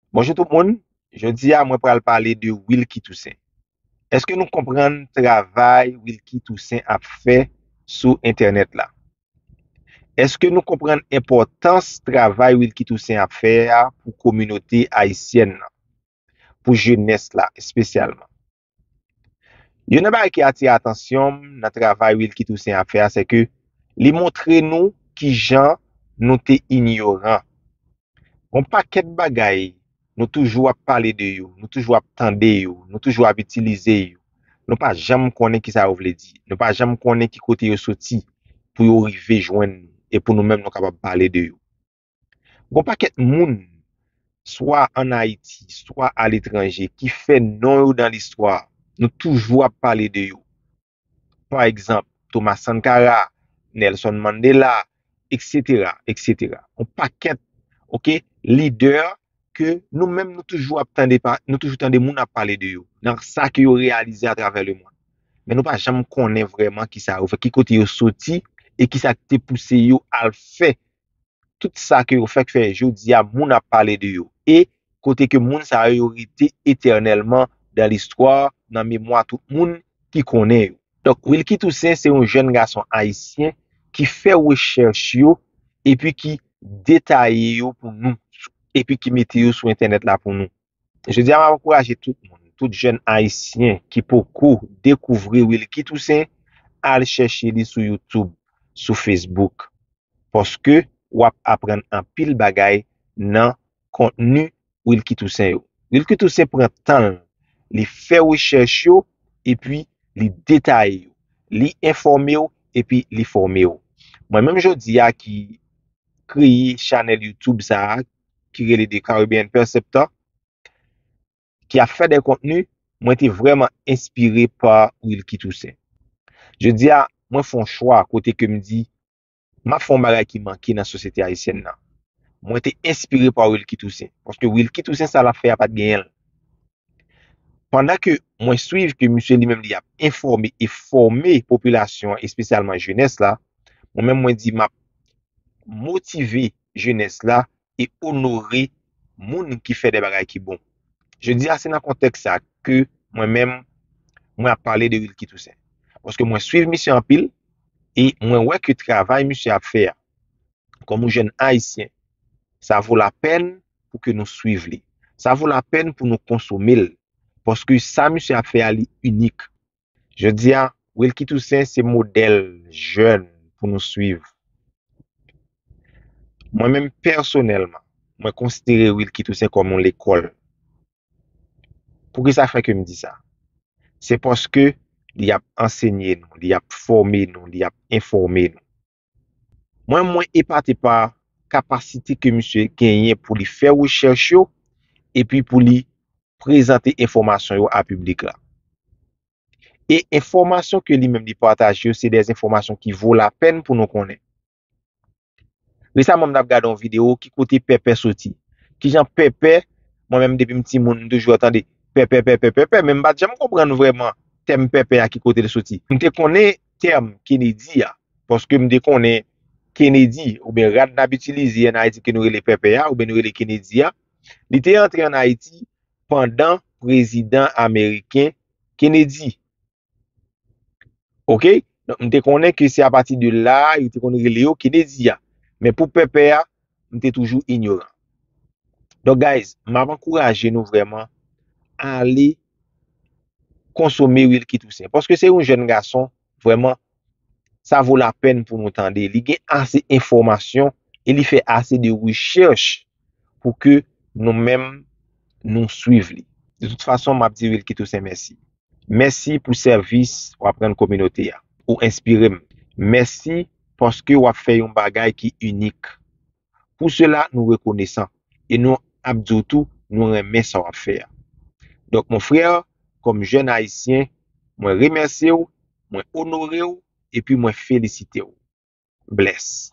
Bonjou tout moun, jodi a mwen pral pale de Wilky Toussaint. Eske nou konprann travay Wilky Toussaint ap fè sou entènèt la? Eske nou konprann enpòtans travay Wilky Toussaint ap fè a pou kominote ayisyèn nan, pou jenès la espesyalman? Youn nan bagay ki atire atansyon m nan travay Wilky Toussaint ap fè a se ke li montre nou ki jan nou te inyoran. Gon pakèt bagay nou toujou ap pale de yo, nou toujou ap tande yo, nou toujou ap itilize yo, nou pa janm konnen ki sa yo vle di, nou pa janm konnen ki kote yo soti pou yo rive jwenn nou e pou nou menm nou kapab pale de yo. Gon pakèt moun, swa an Ayiti, swa aletranje, ki fè non yo nan listwa. Nou toujou ap pale de yo. Pa egzanp, Thomas Sankara, Nelson Mandela, eksetera, eksetera. Gon pakèt, ok, lidè ke nou menm nou toujou ap tande, nou toujou tande moun ap pale de yo, nan sa ke yo reyalize atravè lemonn. Men nou pa janm konnen vrèman kisa yo fè, ki kote yo soti, e kisa ki te pouse yo al fè tout sa ke yo fèk fè jodi a moun ap pale de yo e kote ke moun sa yo yo rete etènèlman dan listwa nan memwa tout moun ki konnen yo. Donk Wilky Toussaint se yon jèn gason ayisyen ki fè rechèch yo epi ki detaye yo pou nou epi ki mete yo sou entènèt la pou nou. Jodi a map ankouraje tout moun, tout jèn ayisyen ki poko dekouvri Wilky Toussaint al chèche li sou YouTube, sou Facebook paske wap aprann anpil bagay nan kontni Wilky Toussaint yo. Wilky Toussaint pran tan l, li fè rechèch yo epi li detaye yo, li enfòme w epi li fòme w. Mwen menm jodi a ki kreye chanèl YouTube sa a ki rele The Caribbean Perceptor ki ap fè de kontni, mwen te vrèman enspire pa Wilky Toussaint. Jodi a, mwen fè yon chwa kote ke m di, m ap fè yon bagay ki manke nan sosyete ayisyèn nan. Mwen te enspire pa Wilky Toussaint, paske Wilky Toussaint sa l ap fè a pa t genyen l. Pandan ke mwen swiv ke misye li menm li ap enfòme e fòme popilasyon an espesyalman jenès la, mwen menm mwen di map motive jenès la e onore moun ki fè de bagay ki bon. Jodi a se nan kontèks sa ke mwen menm mwen ap pale de Wilky Toussaint. Paske mwen swiv misye anpil e mwen wè ke travay misye ap fè a kòm yon jèn ayisyen sa vo lapèn pou ke nou swiv li. Sa vo la pèn pou nou konsome l, paske sa misye ap fè a li inik. Jodi a, Wilky Toussaint se modèl jèn pou nou swiv. Mwen menm pèsonèlman, mwen konsidere Wilky Toussaint kòm yon lekòl. Pou ki sa fè ke m di sa? Se paske li ap ansenye nou, li ap fòme nou, li ap enfòme nou. Mwen mwen epate pa kapasite ke misye genyen pou li fè rechèch yo epi pou li prezante enfòmasyon yo a piblik la. E enfòmasyon ke li menm li pataje yo se de enfòmasyon ki vo la pèn pou nou konnen. Resaman m t ap gade yon video ki kote pèpè soti. Kijan pèpè, mwen menm depi m ti moun m toujou ap tande pèpè pèpè pèpè men m pat janm konprann vrèman tèm pèpè a ki kote l soti. M te konnen tèm Kennedy a, paske m te konnen Kennedy, oubyen rad n ap itilize ann Ayiti ke nou rele pèpè a, oubyen nou rele Kennedy a, li te antre ann Ayiti pandan prezidan ameriken Kennedy. Ok? Donk m te konnen ke se apati de la a yo te konn rele yo Kennedy a. Men pou pèpè a, m te toujou inyoran. Donk guys, m ap ankouraje nou vrèman ale konsome Wilky Toussaint paske se yon jèn gason vrèman sa vo la pèn pou nou tande li gen ase enfòmasyon e li fè ase de rechèch pou ke nou menm nou swiv li. De tout fason map di Wilky Toussaint mèsi. Mèsi pou sèvis wap rann kominote a. Ou enspire m. Mèsi paske wap fè yon bagay ki inik. Pou sela nou rekonesan e nou ap di w tou nou renmen sa w ap fè a. Donk mon frère, kòm jèn ayisyen, mwen remèsye w, mwen onore w epi mwen felisite w. Bless.